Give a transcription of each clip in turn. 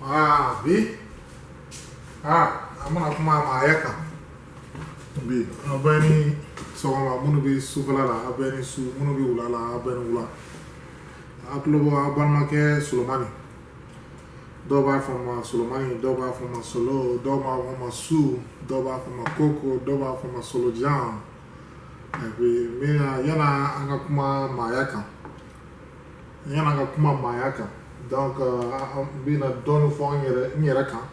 Ah, bi. Ah, an bɛna kuma maaya kan. Bi, a bɛɛ ni sɔgɔma minnu bɛ sufɛla la, a bɛɛ ni su minnu bɛ wula la, a bɛɛ ni wula. A tulo b'a balimakɛ Solomani. Dɔw b'a fɔ ma Solomani, dɔw b'a fɔ ma Solo, dɔw b'a fɔ ma Su, dɔw b'a fɔ ma Koko, dɔw b'a fɔ ma Solojan. Et puis, n bɛ na yan an ka kuma maaya kan yan an ka kuma maaya kan donc euh, n bɛna dɔɔni fɔ n yɛrɛ n yɛrɛ kan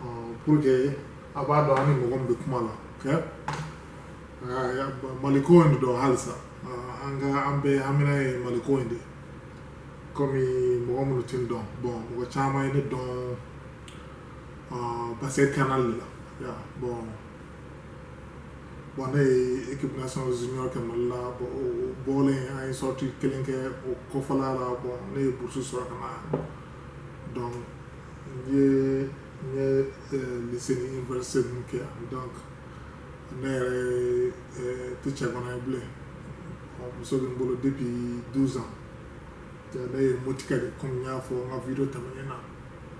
euh, pour que a b'a dɔn a ni mɔgɔ min bɛ kuma la ok euh, maliko in de don halisa an ka an bɛɛ hamina ye maliko in de ye komi mɔgɔ minnu tɛ n dɔn bɔn mɔgɔ caman ye ne dɔn basket canal de la bɔn bon ne ye équipe nationale junior kɛ Mali la bon o bɔlen an ye sorti kelen kɛ o kɔfɛla la bon ne ye bourse sɔrɔ ka na donc n ye n ye euh, lycée ni université ninnu kɛ yan donc ne yɛrɛ euh, tɛ cɛganan ye bilen bon muso bɛ n bolo depuis 12 ans ne ye motika de komi n y'a fɔ n ka video tɛmɛnen na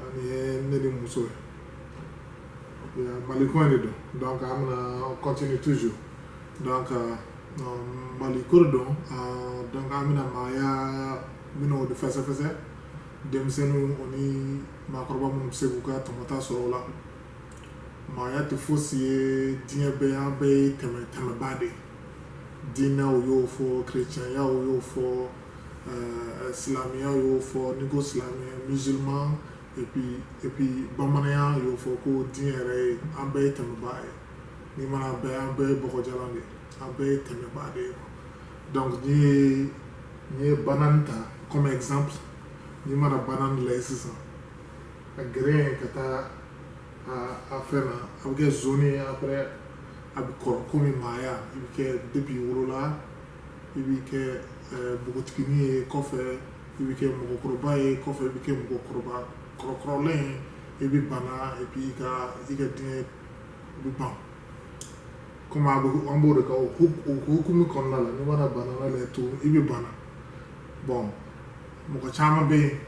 Ani ye ne ni muso ye maliko in de don donc an bɛna continue toujours donc maliko don donc an bɛna maaya minnu de fɛsɛfɛsɛ denmisɛnninw o ni maakɔrɔba minnu bɛ se k'u ka tɔmɔta sɔrɔ o la maaya tɛ fosi ye diɲɛ bɛɛ an bɛɛ ye tɛmɛ tɛmɛbaa de ye diinɛw y'o fɔ kerecɛnyaw y'o fɔ ɛɛ silamɛya y'o fɔ n'i ko silamɛya musulman et puis et puis bamananya y'o fɔ ko diɲɛ yɛrɛ ye an bɛɛ ye tɛmɛbaa ye n'i mana an bɛɛ an bɛɛ ye bɔgɔjalan de ye an bɛɛ ye tɛmɛbaa de ye donc n'i ye n'i ye banane ta comme exemple n'i mana banane lajɛ sisan a geren ka taa a a fɛn na a bɛ kɛ jaune ye après a bɛ kɔrɔ komi maaya i bɛ kɛ depuis wolola i bɛ kɛ npogotigini ye kɔfɛ i bɛ kɛ mɔgɔkɔrɔba ye kɔfɛ i bɛ kɛ mɔgɔkɔrɔba kɔrɔkɔrɔlen i bɛ bana i bɛ i ka i ka diɲɛ i bɛ ban komi a bɛ an b'o de ka o hukumu kɔnɔna la n'i mana banane lajɛ to i bɛ bana bɔn mɔgɔ caman bɛ yen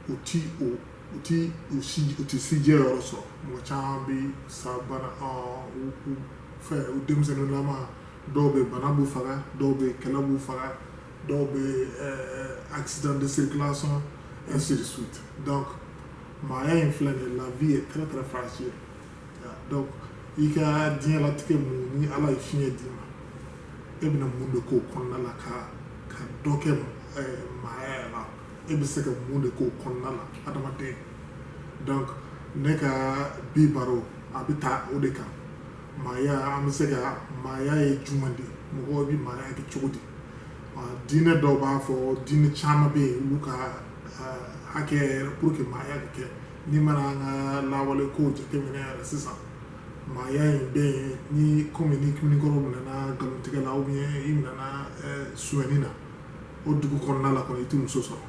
u ti o u ti u si u ti sijɛ yɔrɔ sɔrɔ mɔgɔ caman bɛ sa banaw fɛ u denmisɛnninlama dɔw bɛ bana b'u faga dɔw bɛ kɛlɛ b'u faga dɔw bɛ eh, accident de circulation ainsi de suite donc maaya in filɛ nin la vie est très très fragile donc i ka diɲɛlatigɛ mun ni ala ye fiɲɛ d'i ma e bɛna mun de k'o kɔnɔna la ka ka dɔ kɛ eh, maaya yɛrɛ la e bɛ se ka mun de k'o kɔnɔna la adamaden donc ne ka bi baro a bɛ taa o de kan maaya an bɛ se ka maaya ye jumɛn de mɔgɔw bɛ maaya kɛ cogo di diinɛ dɔw b'a fɔ diinɛ caman bɛ yen olu ka hakɛ yɛrɛ pour que maaya bɛ kɛ n'i mana an ka lawale kow jateminɛ yɛrɛ sisan maaya in bɛ yen ni komi ni kiminikɔrɔ minɛna nkalontigɛ la ou bien i minɛna suɲɛni na o dugu kɔnɔna la kɔni i tɛ muso sɔrɔ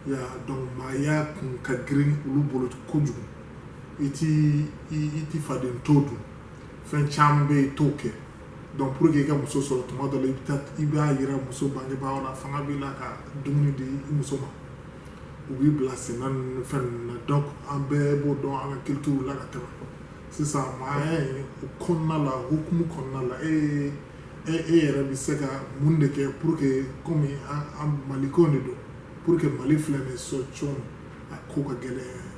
yan donc maaya kun ka girin olu bolo kojugu i ti i ti faden to dun fɛn caman bɛ yen i t'o kɛ donc pour que i ka muso sɔrɔ tuma dɔ la i bɛ taa i b'a yira muso bangebaaw la fanga b'i la ka dumuni di i muso ma u b'i bila sɛnɛ ninnu fɛn ninnu na donc an bɛɛ b'o dɔn an ka culture la ka tɛmɛ sisan maaya in o kɔnɔna la hukumu kɔnɔna la e ye e e yɛrɛ bɛ se ka mun de kɛ pour que komi an an maliko de don pour que mali filɛ nin ye sɔcɔn a ko ka gɛlɛn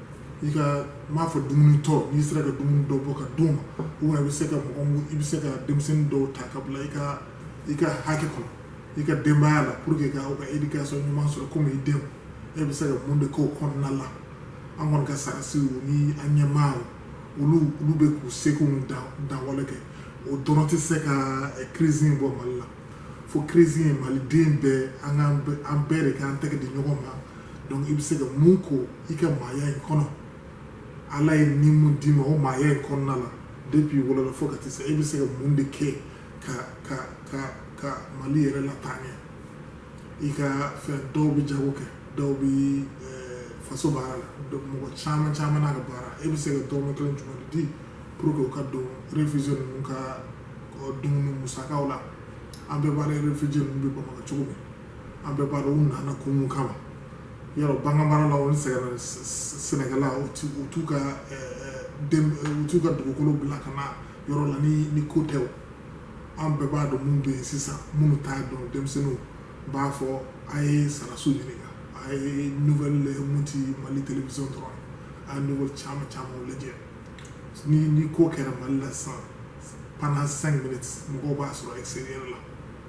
i ka n b'a fɔ dumuni tɔ n'i sera ka dumuni dɔ bɔ ka d'u ma u bɛ se ka mɔgɔ i bɛ se ka denmisɛnnin dɔw ta ka bila i ka i ka hakɛ kɔnɔ i ka denbaya la pour que ka ka éducation ɲuman sɔrɔ komi i denw e bɛ se ka mun de k'o kɔnɔna la an kɔni ka sarasiw ni an ɲɛmaaw olu olu bɛ k'u seko dan wale kɛ o dɔrɔn tɛ se ka crise in bɔ mali la fo crise in maliden bɛɛ an bɛɛ de k'an tɛgɛ di ɲɔgɔn ma donc i bɛ se ka mun k'o i ka maaya in kɔnɔ ala ye ni mun d'i ma o maaya in kɔnɔna la depuis wolola fo ka taa se i bɛ se ka mun de kɛ ka ka ka ka mali yɛrɛ lataa ɲɛ i ka fɛn dɔw bɛ jago kɛ dɔw bɛ eh, faso baara la mɔgɔ caman caman n'a ka baara e bɛ se ka dɔrɔmɛ kelen jumɛn de di pour que o ka don réfugié ninnu ka dumuni musakaw la an bɛɛ b'a dɔn réfugié ninnu bɛ bamakɔ cogo min an bɛɛ b'a dɔn u nana kun mun kama yɔrɔ baganmarala olu sɛgɛnna sɛnɛkɛla u t'u ka u t'u ka dugukolo bila ka na yɔrɔ la ni ni ko tɛ an bɛɛ b'a dɔn mun bɛ yen sisan minnu t'a dɔn denmisɛnninw b'a fɔ a ye saraso ɲininka a ye nouvelle mun ti mali télévision dɔrɔn a ye nouvelle caman caman lajɛ ni ni ko kɛra mali la sisan pendant cinq minutes mɔgɔw b'a sɔrɔ extérieur la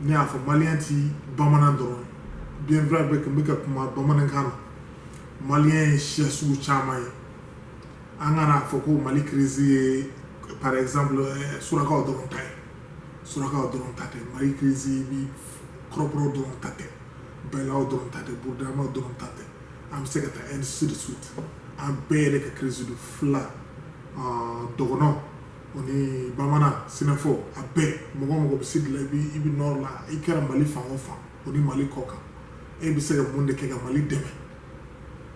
ne y'a fɔ maliyɛn ti bamanan dɔrɔn bien vrai bɛ kun bɛ ka kuma bamanankan na maliyɛn ye siya sugu caman ye an kana fɔ ko mali crise ye par exemple eh, surakaw dɔrɔn ta ye surakaw dɔrɔn ta tɛ mali crise bi kɔrɔbɔrɔw dɔrɔn ta tɛ bɛlaw dɔrɔn ta tɛ burudamaw dɔrɔn ta tɛ an bɛ se ka taa ainsi de suite an bɛɛ yɛrɛ ka crise don fila ah, dɔgɔnɔw o ni bamanan sinafɔ a bɛɛ mɔgɔ mɔgɔ bɛ sud la i i bɛ nord la i kɛra mali fan o fan o ni mali kɔkan e bɛ se ka mun de kɛ ka mali dɛmɛ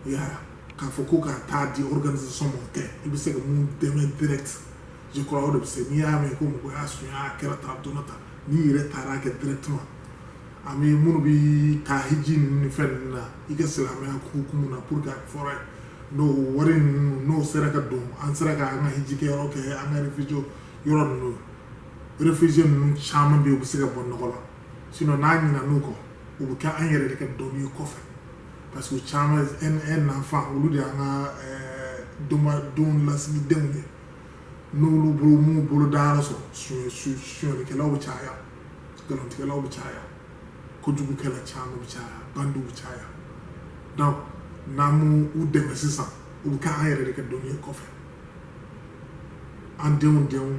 i y'a ye k'a fɔ ko ka taa di organisation ma o tɛ i bɛ se ka mun dɛmɛ direct je crois o de bɛ se n'i y'a mɛn ko mɔgɔ y'a sunya a kɛra tan don tan n'i yɛrɛ taara kɛ directement an bɛ minnu bɛ taa hiji ninnu ni fɛn ninnu na i ka silamɛya hukumu na pour que a fɔra ye n'o wari ninnu n'o sera ka don an sera ka an ka hijikɛ yɔrɔ kɛ an ka réfugié yɔrɔ ninnu réfugié ninnu caman bɛ yen u bɛ se ka bɔ nɔgɔ la sinon n'an ɲinɛn'u kɔ u bɛ kɛ an yɛrɛ de ka doni ye kɔfɛ parce que caman un enfant olu de y'an ka doma don lasigidenw ye n'olu bolo ma bolo dayɔrɔ sɔrɔ sonyɛlikɛlaw bɛ caya nkalontigɛlaw bɛ caya kojugukɛla caman bɛ caya bandiw bɛ caya donc n'an m'u dɛmɛ sisan u bɛ kɛ an yɛrɛ de ka doni ye kɔfɛ an denw denw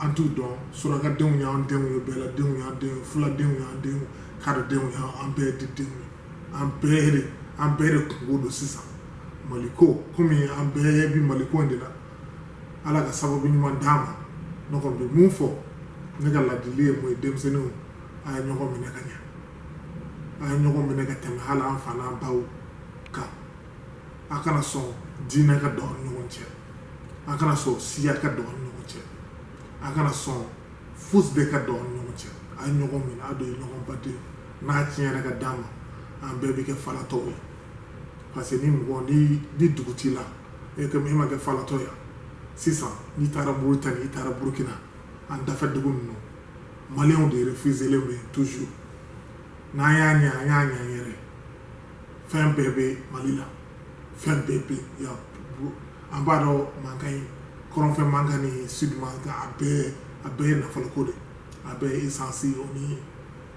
an t'u dɔn surakadenw y'an denw ye bɛladenw y'an denw ye fuladenw y'an denw ye kadodenw y'an an bɛɛ de denw ye an bɛɛ de an bɛɛ de kunko don sisan maliko komi an bɛɛ bi maliko in de la ala ka sababu ɲuman d'an ma ne kɔni bɛ mun fɔ ne ka ladili ye mun ye denmisɛnninw a ye ɲɔgɔn minɛ ka ɲɛ a ye ɲɔgɔn minɛ ka tɛmɛ hali an fa n'an baw kan a kana sɔn diinɛ ka don aw ni ɲɔgɔn cɛ a kana sɔn siya ka don aw ni ɲɔgɔn cɛ a kana sɔn fosi de ka don aw ni ɲɔgɔn cɛ a ye ɲɔgɔn minɛ a de ye ɲɔgɔn baden n'a tiɲɛna ka d'an ma an bɛɛ bɛ kɛ falatɔw ye parce que ni mɔgɔ ni ni dugu t'i la e comme e ma kɛ falatɔ ye sisan n'i taara Mauritanie i taara Burkina an dafɛ dugu ninnu Maliw de réfugiélen bɛ toujours n'an y'a ɲɛ an y'a ɲɛ yɛrɛ fɛn bɛɛ bɛ mali la fɛn bɛɛ bɛ yan an b'a dɔn mankan ye kɔrɔnfɛ mankan ni sud mankan a bɛɛ a bɛɛ ye nafoloko de a bɛɛ ye essence o ni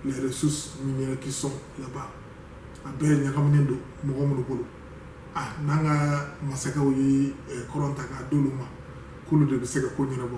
les ressources minières qui sont là-bas a bɛɛ ɲagaminen don mɔgɔ minnu bolo ah n'an ka masakɛw ye kɔrɔn ta k'a d'olu ma k'olu de bɛ se ka ko ɲɛnabɔ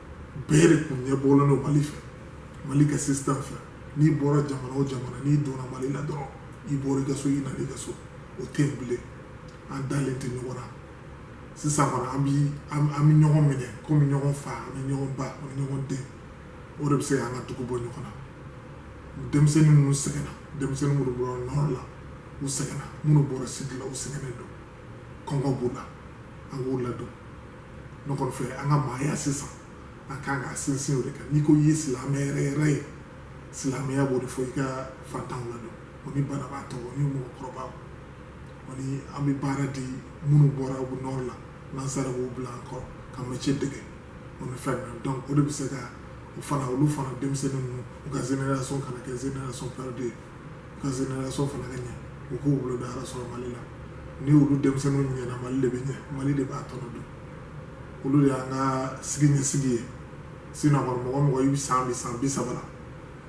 bɛɛ de kun ɲɛ bɔlen don mali fɛ mali ka système fɛ n'i bɔra jamana o jamana n'i donna mali la dɔrɔn i bɔra i ka so i nana i ka so o tɛ yen bilen an dalen tɛ ɲɔgɔn na sisan kɔni an bi an bɛ ɲɔgɔn minɛ komi ɲɔgɔn fa an bɛ ɲɔgɔn ba an bɛ ɲɔgɔn den o de bɛ se k'an ka dugu bɔ nɔgɔ la denmisɛnnin minnu sɛgɛnna denmisɛnnin minnu bɔra nɔrɔ la u sɛgɛnna minnu bɔra sidi la u sɛgɛnnen don kɔngɔ b'u la an k'u ladon ne kɔni fɛ an ka maaya sisan an ka kan ka sinsin o de kan n'i ko i ye silamɛ yɛrɛ yɛrɛ ye silamɛya b'o de fɔ i ka fantanw ladon o ni banabaatɔ o ni mɔgɔkɔrɔbaw o ni an bɛ baara di minnu bɔra u nɔrɔ la n'an sera k'u bila an kɔrɔ ka mɛtiye dege o ni fɛn ninnu donc o de bɛ se ka o fana olu fana denmisɛnnin ninnu u ka génération kana kɛ génération perdue ye ka génération fana ka ɲɛ u k'u bolo da ala sɔrɔ mali la ni olu denmisɛnninw ɲɛna mali de bɛ ɲɛ mali de b'a tɔnɔ dun olu de y'an ka sini ɲɛsigi ye sinɔn kɔni mɔgɔ mɔgɔ i bɛ san bi san bi saba la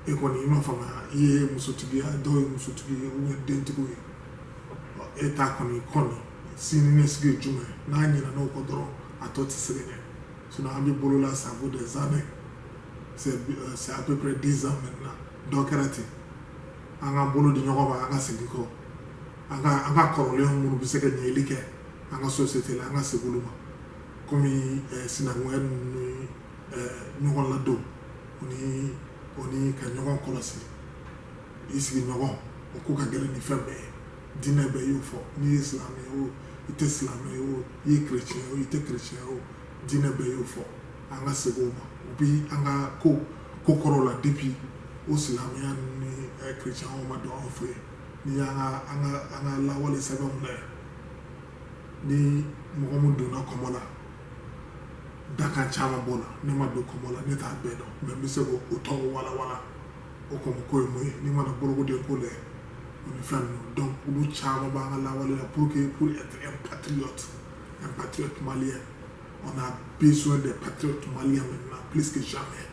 e kɔni i ma faamuya i ye musotigi ye dɔw ye musotigi ye u ye dentigiw ye e ta kɔni kɔni sini ɲɛsigi ye jumɛn n'an ɲinɛna o kɔ dɔrɔn a tɔ tɛ se ka ɲɛ sinɔn an bɛ bolo la ça vaut des années c'est à peu près dix ans maintenant dɔ kɛra ten an ka bolo di ɲɔgɔn ma an ka segin kɔ an ka an ka kɔrɔlen minnu bɛ se ka ɲɛli kɛ an ka sosiyete la an ka segin olu ma komi eh, sinankunya ni eh, ɲɔgɔn ladon o ni o ni ka ɲɔgɔn kɔlɔsi i sigiɲɔgɔn o ko ka gɛlɛn ni fɛn bɛɛ ye diinɛ bɛɛ y'o fɔ n'i ye silamɛ ye o i tɛ silamɛ ye o i ye kerecɛn ye o i tɛ kerecɛn ye o diinɛ bɛɛ y'o fɔ an ka segin o ma u bɛ an ka ko ko kɔrɔw la depi o silamɛya ni kiricɛnw ma don anw fɛ yen n'i y'an ka an ka an ka lawale sɛbɛnw lajɛ ni mɔgɔ min donna kɔmɔ la dakan caman b'o la ne ma don kɔmɔ la ne t'a bɛɛ dɔn mɛ n bɛ se k'o tɔgɔ walawala o kɔmɔ ko ye mun ye n'i mana bolokoden ko lajɛ o ni fɛn ninnu donc olu caman b'an ka lawale la pour que pour être un patriote un patriote malien On a besoin des patriotes maliens maintenant, plus que jamais.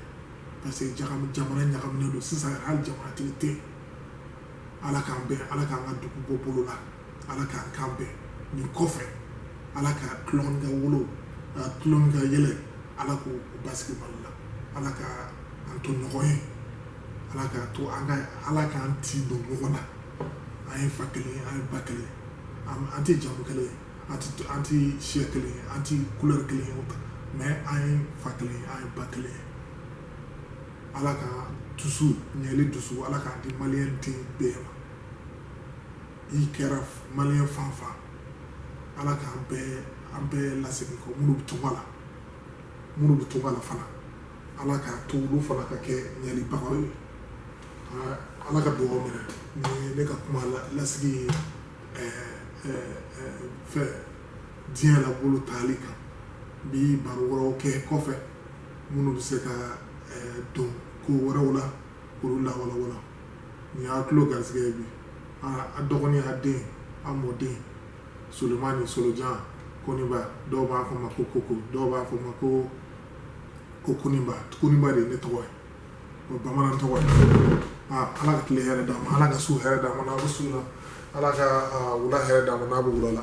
Parce que jamana ɲagaminen don sisan yɛrɛ hali jamanatigi tɛ yen ala k'an bɛn ala k'an ka dugu bɔ bolo la ala k'an kan bɛn nin kɔfɛ ala ka tulon ka wolo ka tulon ka yɛlɛ ala k'o basigi mali la ala ka an to ɲɔgɔn ye ala k'a to an ka ala k'an tin don ɲɔgɔn na an ye fa kelen an ye ba kelen an tɛ jamu kelen ye an ti an ti siya kelen ye an ti couleur kelen ye mais an ye fa kelen ye an ye ba kelen ye ala ka dusu ɲɛli dusu ala k'a di maliyɛn den bɛɛ ma i kɛra maliyɛn fan o fan ala k'an bɛɛ an bɛɛ lasegin kɔ minnu bɛ tunga la minnu bɛ tunga la fana ala k'a to olu fana ka kɛ ɲɛlibagaw ye ala ka dugawu minɛ ni ne ka kuma lasigi ye fɛ diɲɛ la bolo taali k'an bi baro wɛrɛw kɛ kɔfɛ minnu bɛ se ka don ko wɛrɛw la k'olu lawalawala nin y'a tulo garisɛgɛ ye bi a dɔgɔnin a den a mɔden solomani solojan koniba dɔw b'a fɔ n ma ko koko dɔw b'a fɔ n ma ko ko koniba koniba de ye ne tɔgɔ ye o bamanan tɔgɔ ye aa ala ka tile hɛrɛ d'a ma ala ka su hɛrɛ d'a ma n'a bɛ su la ala ka wula hɛrɛ d'a ma n'a bɛ wula la